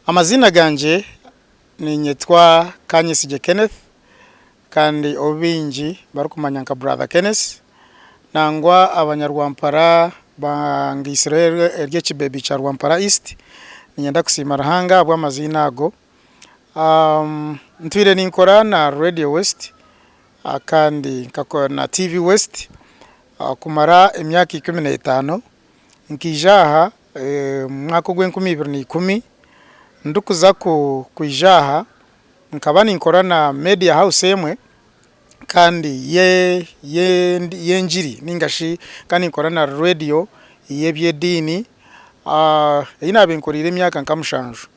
Amaziina gangye ninyetwa Kanyesigye Kenneth kandi ou baingi barikumanya nka Brother Kenneth nangwa abanyarwampara bangaisireho ery'ekibeebi kya Rwampara East. Niinyenda kusiima Ruhanga ahabw'amaziina ago. Ntwire ninkora na Radio West kandi na TV West kumara emyaka ikumi n'etaano. Nkaija aha omu mwaka ogw'enkumi ibiri na ikumi, ndikuza kwija aha nkaba ninkora na Media House emwe kandi y'engiri nainga shi nkaba ninkora na reediyo y'eby'ediini ei naabaire nkoreire emyaka nka mushanju.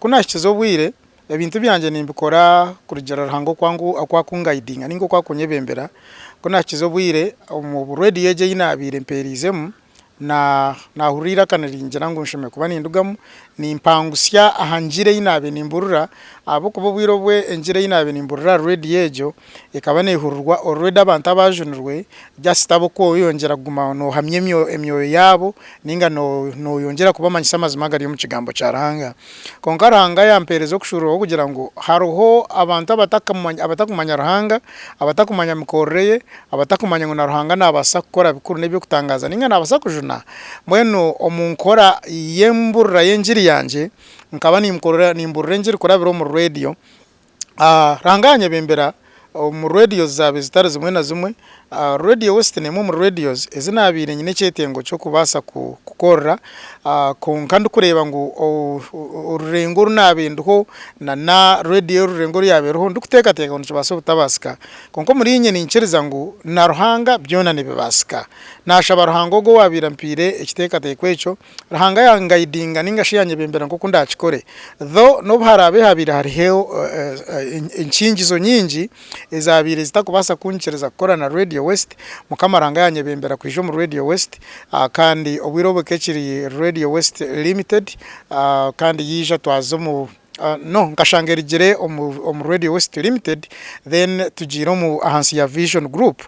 Ku naahikize obwire Ebintu byangye nimbikora kurugiirira Ruhanga oku akungayidinga nainga oku akunyebembera. Ku naahikiize obwire omu reediyo egi ei naabaire mpeeriizemu, naahurira eiraka niringira ngu nshemereire kuba nindugamu nimpangutsya aha ngira ei naabaire nimburira ahabw'okuba obwire obwe engira ei naabaire nimburira aha reediyo egyo Ekaba neehurirwa orureda abantu abaajunirwe jasita bo ku oyeyongyera kuguma noohamya emyoyo yaabo nainga nooyongyera kubamanyisa amazima agari omu Kigambo kya Ruhanga. Kwonka Ruhanga yampeereza okushuururuka kw'okugira ngu hariho abantu abatakumanya Ruhanga, abatakumanya mikorere ye, abatakumanya ngu na Ruhanga naabaasa kukora bikuru n'eby'okutangaaza nainga naabaasa kujuna. Mbwenu omu nkora y'embuurira y'engiri yangye, nkaba nimbuurira engiri kurabira omuri reediyo, Ranga anyebembera omu radios zaaba ezitari zimwe na zimwe. Radio West n'emwe omuri radios ezi naabaire nyine ekyetengo ky'okubaasa kukorera kwonka ndikureeba ngu orurengo oru naabaire ndiho na na radio y'orurengo oru yaabaire eriho ndikuteekateeka ngu nikibaasa obutabaasika. Kwonka omuriinye niikiiriza ngu na Ruhanga byona nibibaasika. Naashaba Ruhanga ogwo owaabaire ampaire ekiteekateeko ekyo Ruhanga yangaidinga ninga shi yanyebembera nk'oku ndakikore. Though n'obu haraabe habaire hariho enkiingizo nyingi ezaabaire zitakubaasa kunyikiriza kukora na Radio West, Mukama Ruhanga yanyebembera kwija omu Radio West kandi obwire obu ekaba ekiri Radio West Limited kandi yaija twaza omu No nkashanga erigire omu Radio West Limited then tugiire omu ahansi ya Vision Group.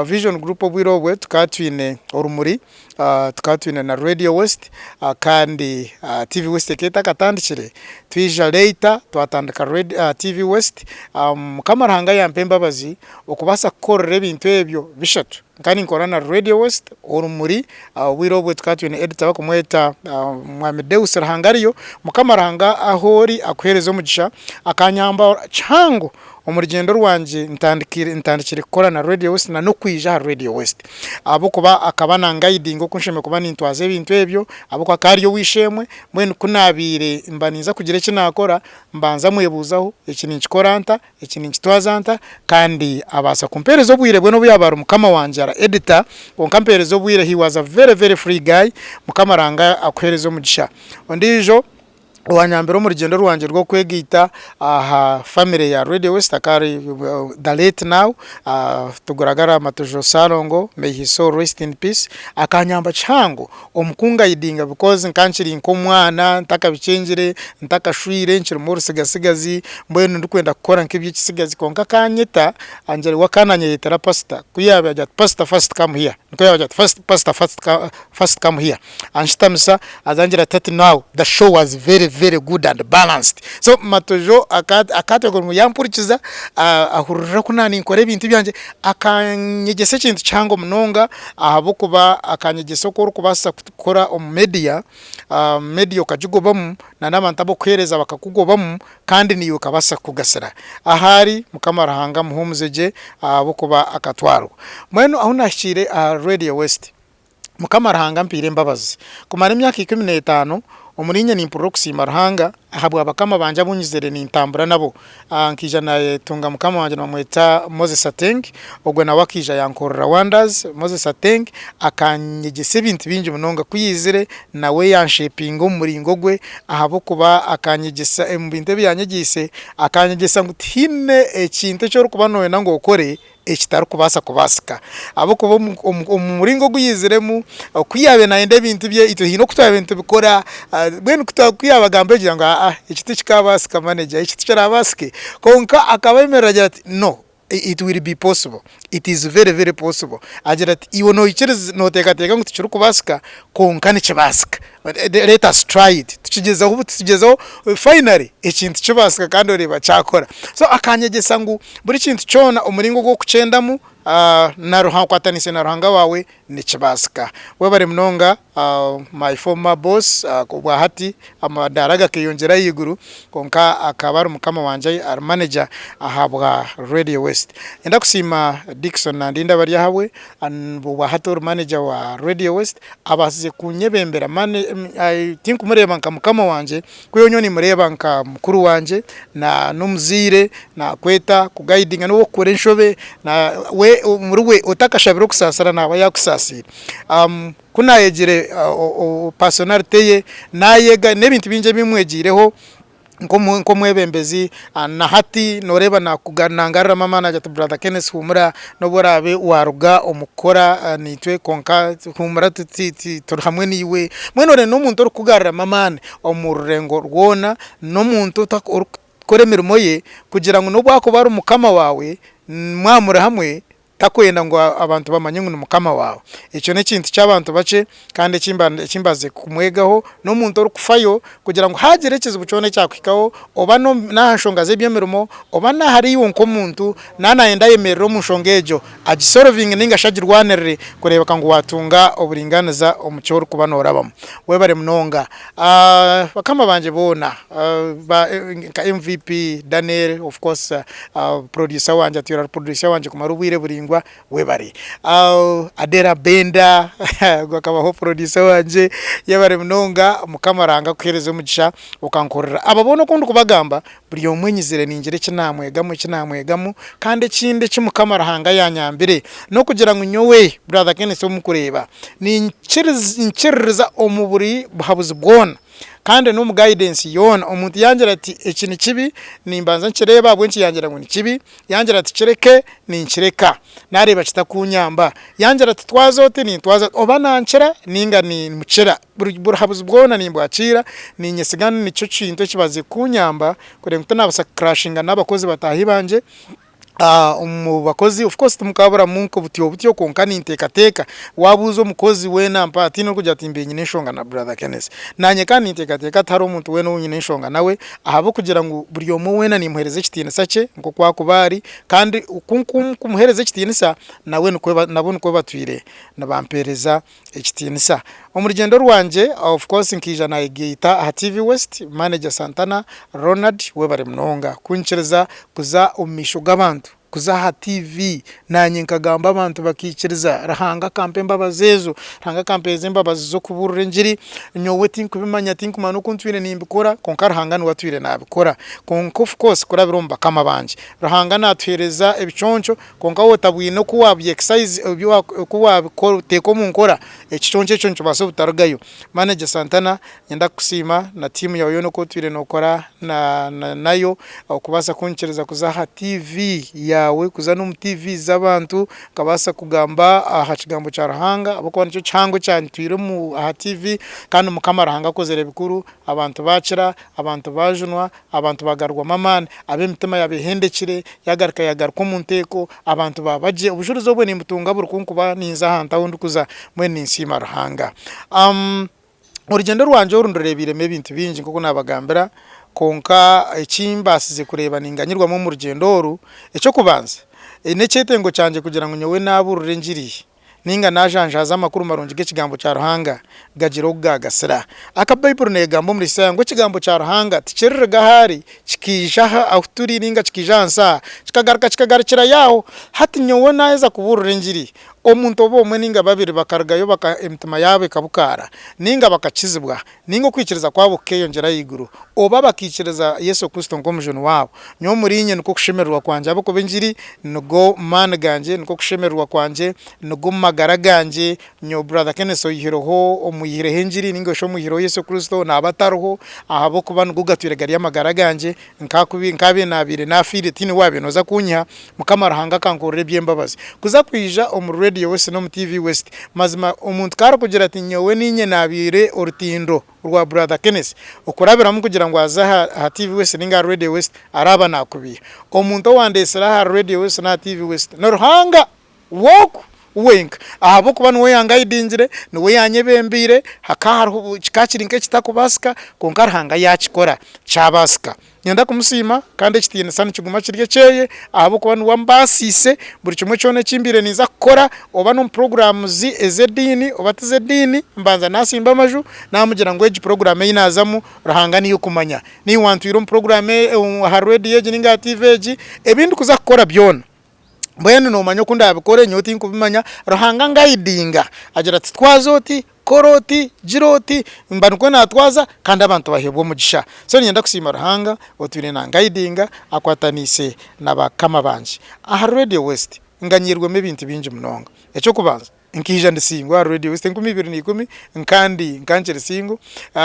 Vision Group obwire obwe tukaba twine Orumuri, tukaba twine na Radio West kandi TV West ekaba etakatandikire. Twija later twatandika TV West. Mukama Ruhanga yampa embabazi okubaasa kukorera ebintu ebyo bishatu. Nkaba ninkorana na Radio West orumuri obwire obwe tukaba twine editor barikumweta mwami Deus Ruhangariyo. Mukama Ruhanga ahu ori akuhereze omugisha. Akanyamba kihango omu rugyendo rwangye ntandikire ntandikire kukora na Radio West na n'okwija ahari Radio West. Ahabw'okuba akaba na ngayidinga oku nshemereire kuba nintwaza ebintu ebyo ahabw'okuba akaba ari ow'eishe-emwe. Mbwenu ku naabaire mba ninza kugira eki naakora mbanza mwebuuzaho eki ninkikora nta Eki ninkitwaza nta kandi abaasa kumpeereza obwire bwe n'obu yaaba ari mukama wangye ara editor kwonka ampeereza obwire he was a very very free guy mukama ranga akuheereze omugisha. Ondiijo owanyambire omu rugyendo rwangye rw'okwegaita aha family ya Radio West akaba ari the late now Tuguraga Ramatuju Salongo may his soul rest in peace akanyamba kihango. Omu kungaidinga bikozi nkaba nkiri nk'omwana ntakabikyengire, ntakashwire, nkirimu orutsigatsigazi mbwenu ndikwenda kukora nk'eby'ekitsigazi kwonka akanyeta angira we akaba nanyeyetera pasita ku yaabaire agira ati pasita fasiti kamu hiya nikwo yaabaire agira ati pasita fasiti kamu hiya anshutamisa aza angira ati hati naawe da showu wazi vere vere gudu andi balansidi so Matojo aka akateekaho ngu yampurikiza ahurira ku naaba ninkora ebintu byangye akanyegyesa ekintu kihango munonga. Ahabw'okuba akanyegyesa oku orikubaasa kukora omu media, media okagigobamu na n'abantu ab'okuheereza bakakugobamu kandi naiwe ekabaasa kukugasira. Ahari Mukama Ruhanga muhuumuze gye ahabw'okuba akatwarwa. Mbwenu ahu naahikiire aha Radio West, Mukama Ruhanga ampaire embabazi kumara emyaka ikumi n'etaano omuriinye nimpurira okusiima Ruhanga, Ahabwa bakama bangye abu nyizaire nintambura nabo, nkaija nayetunga mukama wangye nibamweta Moses Ateng, ogwo nawe akaija yankorera wonders. Moses Ateng akanyegyesa ebintu bingi munonga, ku yaizire nawe yanshepinga omu muringo gwe ahabw'okuba akanyegyesa, omu bintu ebi yanyegyeise akanyegyesa ngu tihaine ekintu eki orikuba noyenda ngu okore ekitarikubaasa kubaasika ahabw'okuba omu muringo ogu yaiziremu ku yaabaire naayenda ebintu bye itwe haine oku twaabaire twine nitubikora mbwenu ku yaabagambira ogira ngu aa eki tikikaabaasika maneja eki tikiraabaasike kwonka akaba ayemerire agira ati no it will be possible, it is very very possible agira ati iwe noikiriza nooteekateeka ngu tikirikubaasika kwonka nikibaasika. Let us try it tukigyezeho buti tugyezeho finally ekintu kibaasika kandi oreeba kyakora so akanyegyesa ngu buri kintu kyona omuringo ogu orikukyendamu okwatanise na Ruhanga waawe nikibaasika. Webare munonga my former boss obwa hati amadaara gakeyongyera ahaiguru kwonka akaba ari mukama wangye ari manager ahabwa Radio West. Nindakusiima Dickson Nandinda Baryahabwe Obwa hati ori manager wa Radio West abasize kunyebembera tinkumureba nka mukama wangye kwihaho nyowe nimureba nka mukuru wangye n'omuzaire nakweta ku guidinga nobu okukora enshobe we omuri we otakashabire okusasira naba yakusasiire kunayegire personality ye nayega n'ebintu bingi ebimwegireho. nk'omwebembezi na hati noreeba nangariramu amaani ati brother Kenneth humura nobu oraabe waruga omu kukora naitwe kwonka humura turi hamwe naiwe, mbwenu orenda omuntu orikukugaruramu amaani omu rurengo rwona, n'omuntu orikukora emirimo ye kugira ngu nobu akuba ari mukama waawe mwaba muri hamwe. Takwenda ngu abantu bamanye ngu ni mukama waawe. Ekyo n'ekintu ky'abantu bakye kandi eki eki mbaze kumwegaho n'omuntu orikufayo kugira ngu haagira ekizibu kyona ekyakuhikaho oba n'aha nshonga z'eby'emirimo oba n'ahari iwe nk'omuntu naaba naayenda ayemerere omu nshonga egyo agisorovinge nainga shi agirwanirire kureebeka ngu waatunga oburingaaniza omu ki orikuba noorabamu. Webare munonga Bakama bangye boona ba nka MVP, Daniel, of course producer wangye atwire ari producer wangye kumara obwire buringwa webare. Adela Benda ogwe akabaho producer wangye yebare munonga mukama Ruhanga akuhereze omugisha okankorera abo boona oku ndikubagamba Buri omwe nyizire ningira eki naamwegamu, eki naamwegamu. Kandi ekindi eki Mukama Ruhanga yaanyambire, n'okugira ngu nyowe, Brother Kenneth ou murikureeba, ninkiriza ninkiririza omu buri buhabuzi bwona, kandi n'omu guidance yoona. Omuntu yaangira ati, Eki nikibi, nimbanza nkireeba ahabw'enki yaagira ngu nikibi. Yaangira ati, Kireke, ninkireka, naareeba kitakuunyamba. Yaangira ati, Twaza oti, nintwaza oti. Oba nankira nainga niimukira. Buri burahabuzi bwona nimbwakiira, niinyesiga nikyo kintu ekibaziire kunyamba kureba ngu tinaabaasa kucrashinga n'abakozi bataahi bangye, omu bakozi of course timukaaburamu nka obutyo obutyo kwonka ninteekateeka, waabuuza omukozi weena mpaha tihaine orikugira ati mbiire nyine enshonga na brother Keneth, naanye kandi ninteekateeka tihariho omuntu weena ou nyine enshonga nawe ahabw'okugira ngu buri omwe weena nimuheereza ekitiinisa kye nk'oku arikuba ari kandi oku nkumuheereza ekitiinisa nabo nikwo batwire nibampeereza Ekitiinisa. Omu rugyendo rwangye of course nkaija nayegaita aha TV West, manager Santana Ronald webare munonga kunkiriza kuza omu maisho g'abantu, kuza aha TV nanye nkagamba abantu bakaikiriza Ruhanga akampa embabazi ezo, Ruhanga akampeereza embabazi z'okubuurira engiri, nyowe tinkubimanya tinkumanya n'oku ntwire nimbikora kwonka Ruhanga niwe atwire nabikora kwonka of course kurabira omu bakama bangye Ruhanga natuheereza ebiconco Kwonka waaba otabwine oku waabiteeka omu nkora, ekiconco ekyo nikibaasa obutarugayo. Manager Santana, niinyenda kukusiima na tiimu yaawe yoona oku otwire nookora nayo okubaasa kunyikiriza kuza aha tiivi yaawe, kuza n'omu tiivi z'abantu nkabaasa kugamba aha kigambo kya Ruhanga ahabw'okuba nikyo kihango ekyantwire aha tiivi. Kandi Mukama Ruhanga akozire bikuru, abantu baakira, abantu baajunwa, Abantu baagarurwamu amaani, ab'emitima yaaba ehendekire yaagaruka yaagaruka omu nteeko, abantu baaba gye. Obujurizi obwo nimbutunga buri ku nkuba ninza aha ntaho ndikuza, mbwenu ninsiima Ruhanga. Orugyendo rwangye oru ndureebeiremu ebintu bingi nk'oku naabagambira, kwonka eki mbaasize kureeba ninganyirwamu omu rugyendo oru, eky'okubanza n'ekyetengo kyangye kugira ngu nyowe naabuurira engiri, ninga naajanjaaza amakuru marungi g'Ekigambo kya Ruhanga, gagira ogu gaagasira. Aka Baibuli neegamba omuri Isaaya ngu Ekigambo kya Ruhanga tikiririga aha ari, kikaija aha ahu turi ninga kikaija aha nsi aha, kikagaruka kikagarukira Yaawe. Hati nyowe naaheza kubuurira engiri, omuntu oba omwe ninga babiri bakarugayo baka, emitima yaabo ekabukaara, ninga bakakizibwa, ninga okwikiriza kwabo kukeyongyera ahaiguru, oba bakaikiriza Yesu Kristo nk'omujuni wabo, nyowe omuriinye nikwo kushemererwa kwangye, ahabw'okuba engiri nigo maani gangye, nikwo kushemererwa kwangye, nigo magara gangye, nyowe Brother Kenneth oyihireho, omwihireho engiri, ninga shi omwihireho Yesu Kristo, naba atariho, ahabw'okuba nigo gatwire gari amagara gangye, Nkakubi nkabe nabaire nafiire tiine wabaire noza kunyiha mukama ruhanga akankorera ebyembabazi kuza kwija omuri radio west nomu TV west mazima omuntu ka arikugira ati nyowe ninye nabaire orutindo rwa brother Kenneth okurabiramu kugira ngu aze aha TV west ninga aha radio west araba nakubiha omuntu owandetsire ahari radio west naha TV west ni ruhanga Walk wenka ahabw'okuba niwe yangaidingire, niwe yanyebembeire, hakaba hariho, kikaba kiri nk'ekitakubaasika kwonka Ruhanga yaakikora kyabaasika. Niinyenda kumusiima kandi ekitiinisa nikiguma kiri ekyeye ahabw'okuba niwe ambaasiise buri kimwe kyona eki mbaire ninza kukora oba n'omu puroguraamu zi ez'ediini oba tiz'ediini mbanza naasimba Amaju naamugira ngu egi puroguraamu ei naazamu Ruhanga niiwe okumanya. Niiwe wantwire omu puroguraamu, aha reediyo egi nainga aha tiivi egi, ebi ndikuza kukora byona mbwenu nomanya oku ndabikore nyowe tinkubimanya Ruhanga angayidinga agira ati twaza oti, kora oti, gira oti, mba nikwo natwaza kandi abantu baheebwa omugisha. So niinyenda kusiima Ruhanga otwine nangayidinga akwataniise na bakama bangye. Ahari Radio West nganyiirwemu ebintu bingi munonga. Eky'okubanza. Nkaija ndi singo aha Radio West enkumi ibiri na ikumi nkandi nka nkiri singo.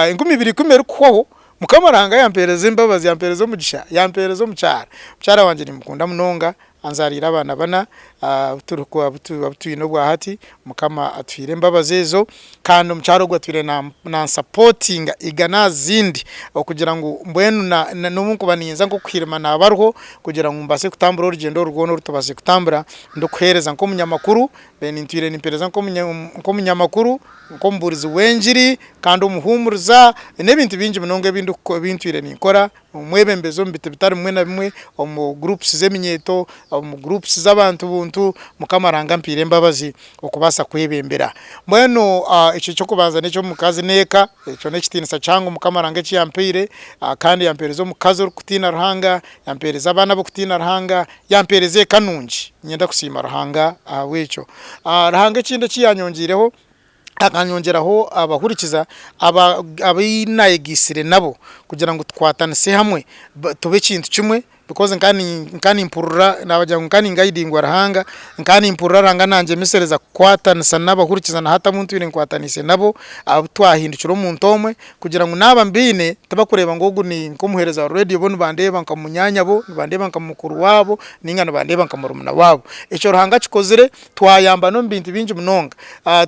Enkumi ibiri ikumi erikuhwaho, Mukama Ruhanga yampeereza embabazi, yampeereza omugisha, yampeereza omukyara. Mukyara wangye nimukunda munonga, anzaariire abaana bana abu twine obwahati. Mukama atuhaire embabazi ezo kandi omukyara ogwo atwire nansapotinga igana aha zindi okugira ngu mbwenu n'obu nkuba niinza nk'okuhirima naaba ariho kugira ngu mbaase kutambura orugyendo oru rwona oru tubaase kutambura ndikuheereza nk'omunyamakuru. Then ntwire nimpereza nk'omunyamakuru, nk'omubuurizi w'engiri kandi omuhuumuriza, n'ebintu bingi munonga ebi ntwire ninkora, omwebembezi omu biti bitari bimwe na bimwe, omu groups z'eminyeeto, omu groups z'abantu buntu, Mukama Ruhanga ampaire embabazi okubaasa kwebembera. Mbwenu ekyo eky'okubanza n'eky'omukazi n'eka, ekyo n'ekitiinisa kihango Mukama Ruhanga eki yampaire, kandi yampereza omukazi orikutiina Ruhanga, yampereza abaana ab'okutiina Ruhanga, yampeereza eka nungi, niinyenda kusiima Ruhanga ahabw'ekyo. Ruhanga ekindi eki yaanyongiireho, akanyongyeraho abahurikiza abu naayegyeisire nabo kugira ngu tukwatanise hamwe tube ekintu kimwe, bikoozi nkaba nimpurira, naabagira ngu nkaba ningayidingwa Ruhanga, nkaba nimpurira Ruhanga naangyemesereza kukwatanisa n'abahurikiza na hati abu ntwire nkwataniise nabo, abu twahindukire omuntu omwe. Kugira ngu naaba mbiine, tibakureeba ngu ogu ni nk'omuheereza wa reediyo, bo nibandeeba nka munyaanyabo, nibandeeba nka mukuru waabo, nainga nibandeeba nka murumuna waabo. Ekyo Ruhanga akikozire, twayambana omu bintu bingi munonga.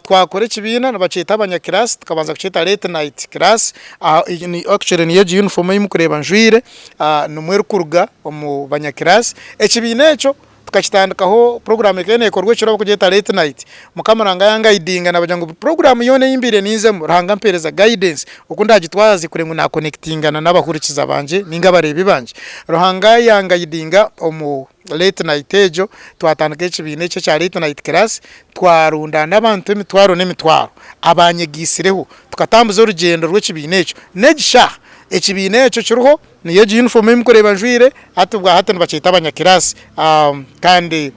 Twakora ekibiina, nibakyeta abanyakiraasi, tukabanza kukyeta Late Night Class, actually niyo egi yunifoomu ei murikureeba njwaire, nimwo erikuruga omu banyakiraasi. Ekibiina ekyo Tukakitandikaho puroguraamu ekaba neekorwa ekiro barikugyeta late night. Mukama Ruhanga yangayidinga naabagira ngu buri puroguraamu yoona ei mbaire ninzemu Ruhanga ampeereza guidance oku ndaagitwaze kureba ngu naakonekitingana n'abahurikiza bangye nainga abareebi bangye. Ruhanga yangayidinga omu late night egyo twatandika ekibiina ekyo ekya late night class twarundaana abantu emitwaro n'emitwaro abanyegaisireho tukatambuza orugyendo rw'ekibiina ekyo. N'egi shaaha ekibiina ekyo kiriho Niyo egi yunifoomu ei murikureeba njwaire, hati bwahati nibakyeta abanyakiraasi kandi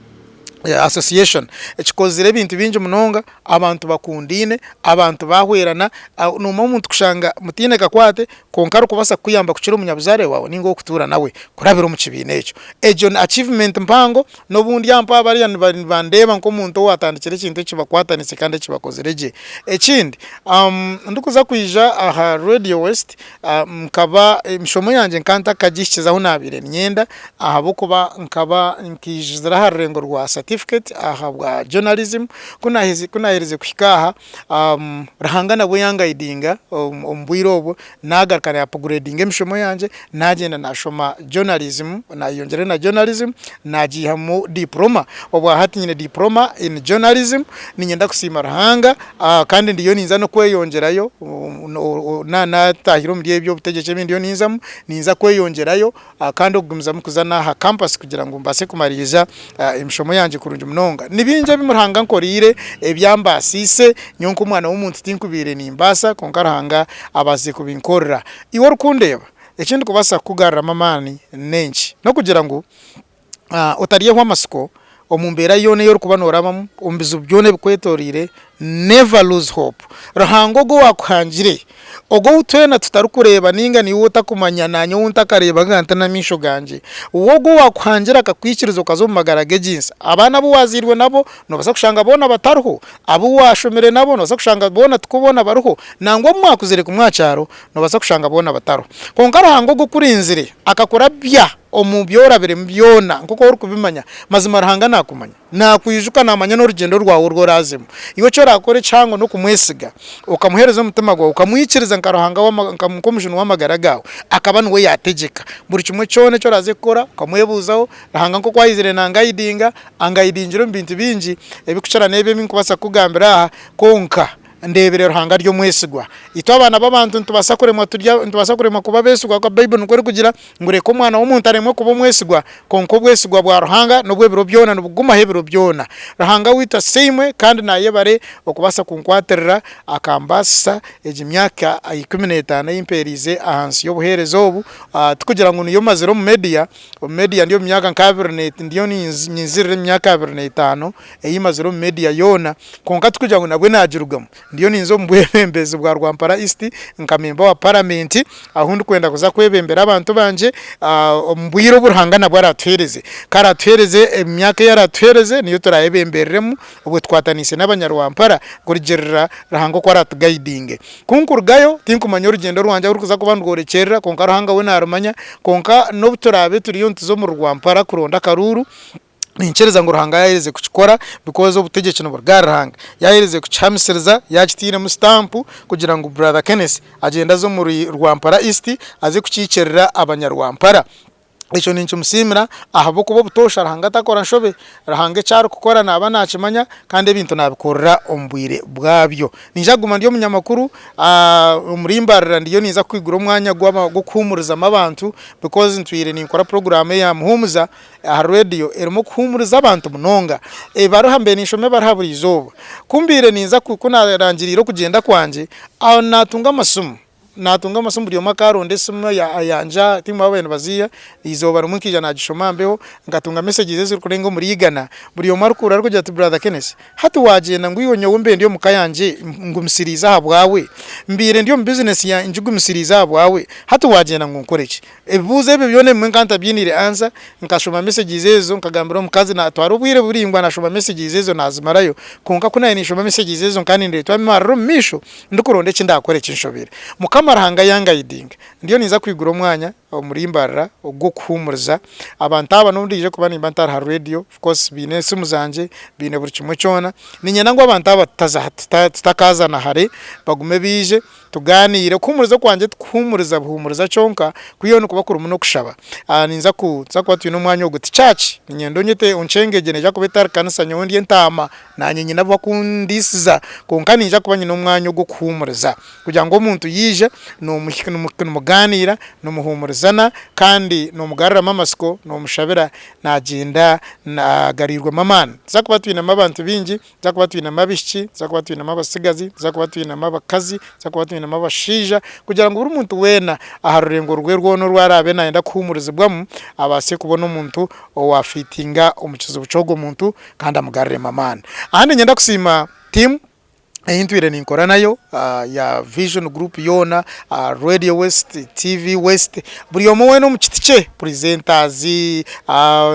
asosiyeshoni ekikozire ebintu bingi munonga, abantu bakundaine, abantu baahweerana, noomanya omuntu kushanga mutaine kakwate kwonka arikubaasa kukuyamba kukira omunyabuzaare waawe nainga ow'okutuura nawe kurabira omu kibiina ekyo, egyo ni achievement mpango, n'obundi aho mpaho bariya nibandeeba nk'omuntu owaatandikire ekintu eki bakwatanise kandi eki bakozire gye. Ekindi ndikuza kwija aha reediyo wesiti Nkaba emishomo yangye nkaba ntakagihikize ahu naabaire niinyenda ahabw'okuba nkaba nkaijizira aha rurengo rwa certificate aha bwa journalism, ku naaherize ku naaherize kuhika aha Ruhanga nabwo yangayidinga omu bwire obwo naagaruka na apugureedinga emishomo yangye naagyenda naashoma journalism naayeyongyerayo na journalism naagiihamu dipurooma, obwahati nyine dipurooma in journalism niinyenda kusiima Ruhanga. Kandi ndiyo ninza n'okweyongyerayo, naatahire omuri eby'obutegyeki ebi ndiyo ninzamu, ninza kweyongyerayo kandi okugumizamu kuza n'aha kampasi kugira ngu mbaase kumaririza emishomo yangye kurungi munonga. Ni bingi ebi Ruhanga ankoreire ebyambaasiise, nyowe nk'omwana w'omuntu tinkubaire nimbaasa kwonka Ruhanga abaasize kubinkorera. Iwe orikundeeba, eki ndikubaasa kukugaruramu amaani n'enki? N'okugira ngu otaryehwa amatsiko omu mbeera yoona ei orikuba noorabamu, omu bizibu byona ebikwetoreire, never lose hope. Ruhanga ogwo owaakuhangire, ogwo ou twena tutarikureeba nainga niiwe otakumanya naanye ou ntakareeba nkaaba nti n'amaisho gangye, we ogwo owaakuhangire akakwikiriza okaza omu magara g'egi nsi, abaana abu waazairwe nabo noobaasa kushanga boona batariho, abu waashomire nabo noobaasa kushanga boona tikwo boona bariho, nangwa abu mwakuzire kumwe aha kyaro noobaasa kushanga boona batariho. Kwonka Ruhanga ogwo okurinzire akakurabya. Omu bi orabiremu byona, nk'oku ori kubimanya, mazima Ruhanga naakumanya, naakwijuka, naamanya n'orugyendo rwawe oru oraazemu. Iwe eki oraakora ekihango n'okumwesiga, okamuheereza omutima gwawe, okamwikiriza nka Ruhanga wa, nka, nk'Omujuni w'amagara gaawe, akaba niwe yaategyeka buri kimwe kyona eki oraaze kukora, okamwebuuzaho, Ruhanga nk'oku aizire naangaidinga, angaidingira omu bintu bingi, ebikukira n'ebi ebi ndikubaasa kukugambira aha, kwonka, Ndeebire Ruhanga ari omwesigwa. Itwe abaana b'abantu nitubaasa kuremwa turya, nitubaasa kuremwa kuba abeesigwa ahakuba Baibuli nikwo erikugira ngu reka omwana w'omuntu aremwe kuba omwesigwa, kwonka obwesigwa bwa Ruhanga n'obw'ebiro byona nibugumaho ebiro byona. Ruhanga waitu asiimwe kandi naayebare okubaasa kunkwatirira akambaasisa egi myaka ikumi n'etaano ei mpeereize aha nsi y'obuheereza obu, tikugira ngu niyo mazire omu media, omu media ndi omu myaka nk'abiri, ndiyo ninzirira emyaka abiri n'etaano. ei mazire omu media yoona kwonka tikugira ngu nabwe nagirugamu, ndiyo ninza omu bwebembezi bwa Rwampara East nka memba wa paramenti ahu ndikwenda kuza kwebembera abantu bangye omu bwire obu Ruhanga nabwe aratuhereze, ku aratuhereze omu myaka ei aratuhereze niyo turayebembereremu obwe tukwatanise n'abanya Rwampara kurugirira Ruhanga oku aratugayidinge. Ku nkurugayo tinkumanya orugyendo rwangye ahu rukuza kuba nirworekyerera kwonka Ruhanga we narumanya kwonka n'obu turabe turiyo nituza omuri Rwampara kuronda akaruuru, Ninkiriza ngu Ruhanga yaaherize kukikora because obutegyeki niburuga ahari Ruhanga. Yaaherize kukihamisiriza, yaakitairemu stamp kugira ngu brother Kenneth agyende aze omuri Rwampara East aze kukiikirira abanyarwampara. Ekyo ninkimusiimira ahabw'okuba obutoosha Ruhanga takora nshobe. Ruhanga eki arikukora naaba naakimanya kandi ebintu naabikorera omu bwire bwabyo. Niija kuguma ndi omunyamakuru omuri Mbarara ndiyo ninza kwigura omwanya gw'okuhuumurizamu abantu because ntwire ninkora puroguraamu eya Muhuumuza. Aha reediyo erimu okuhuumuriza abantu munonga, ebibaruha mbaire ninshoma ebibaruha buri izooba. Ku mbaire ninza ku naarangiriire okugyenda kwangye, aho naatunga amasimu, naatunga amasimu buri omwe akaaronda esimu yangye, tihaine ou baabaire nibaziiha, eizooba rimwe nkaija naagishoma mbeho, nkatunga mesagizi ezirikurenga omuri igana, buri omwe arikuhurira arikugira ati Brother Kenneth, hati waagyenda ngu iwe nyowe mbe ndi omu ka yangye ngumisiriize ahabwawe? Mbaire ndi omu bizineesi yangye ngigumisiriize ahabwawe, hati waagyenda ngu nkore ki? Ebibuuzo ebyo byona ebimwe nkaba ntabyiniire answer, nkashoma messages ezo nkagambira omukazi natwara obwire buraingwa nashoma messages ezo nazimarayo kwonka ku naabaire ninshoma messages ezo nkaba nindeetwamu emarira omu maisho ndikuronda eki ndakora ekinshobire. Mukama Ruhanga yangaidinga ndiyo ninza kwigura omwanya omuri mbarira ogw'okuhuumuriza abantu aba n'obu ndije kuba nimba ntari ha radio of course baine esimu zangye baine buri kimwe kyona niinyenda ngu abantu aba tutakaazana hare bagume baije Tugaaniire, Okuhuumuriza Kwangye Tikuhuumuriza Buhuumuriza Kyonka, Ku Yoona Kuba Kurimu n'Okushaba. Ninza ku, ninza kuba twine omwanya ogu. Ti chaaci. Niinyenda onyete onkyenge egyo neija kuba etari kanisa. Nyowe ndi entaama. Naanye nyine abakundiisiza. Kwonka niinja kuba nyine omwanya ogw'okuhuumuriza. Kugira ngu omuntu yaija, noomuhi, nimu, nimugaaniira, nimuhuumurizana, kandi noomugaruramu amatsiko, noomushabira, naagyenda na, agariirwemu amaani. Nituza kuba twinemu abantu baingi. nituza kuba twinemu abaishiki, nituza kuba twinemu abatsigazi, nituza kuba twinemu abakazi, nituza kuba twinemu abashaija, kugira ngu buri muntu weena aha rurengo rwe rwona oru araabe naayenda kuhuumurizibwamu, abaase kubona omuntu owaafiitinga omu kizibu ky'ogwo muntu kandi amugariremu amaani. Aha niinyenda kusiima tiimu ei ntwire ninkora nayo ya Vision Group yoona, Radio West, TV West, Buri omwe weena omu kiti kye, presenters,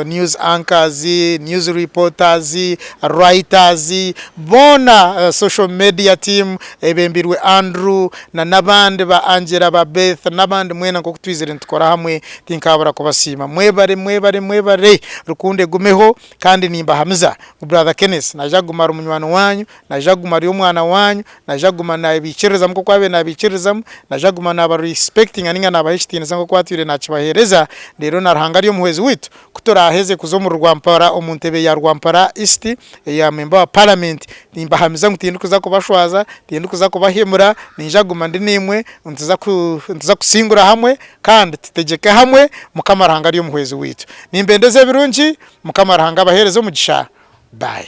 news anchors, news reporters, writers, boona social media team ebembirwe Andrew na n'abandi ba Angella ba Beth n'abandi mwena nk'oku twizire nitukora hamwe tinkaabura kubasiima. Mwebare mwebare mwebare rukundo egumeho kandi nimbahamiza ngu brother Kenneth naija kuguma ari munywani waanyu, naija kuguma ari omwana waanyu, Naija kuguma naabiikiririzamu nk'oku aabaire naabiikiririzamu. Naija kuguma naabarisipekitinga ninga naabaha ekitiinisa nk'oku atwire naakibaheereza. Reero na Ruhanga ari Omuhwezi waitu, ku turaaheze kuza omuri Rwampara, omu ntebe ya Rwampara East eya memba wa Paramenti, nimbahamiza ngu tindikuza kubashwaza, tindikuza kubahemura. Niija kuguma ndi naimwe. Nituza ku, nituza kusingura hamwe kandi tutegyeke hamwe. Mukama Ruhanga ari Omuhwezi waitu. Nimbendeza ebirungi. Mukama Ruhanga abaheereze omugisha. Bye.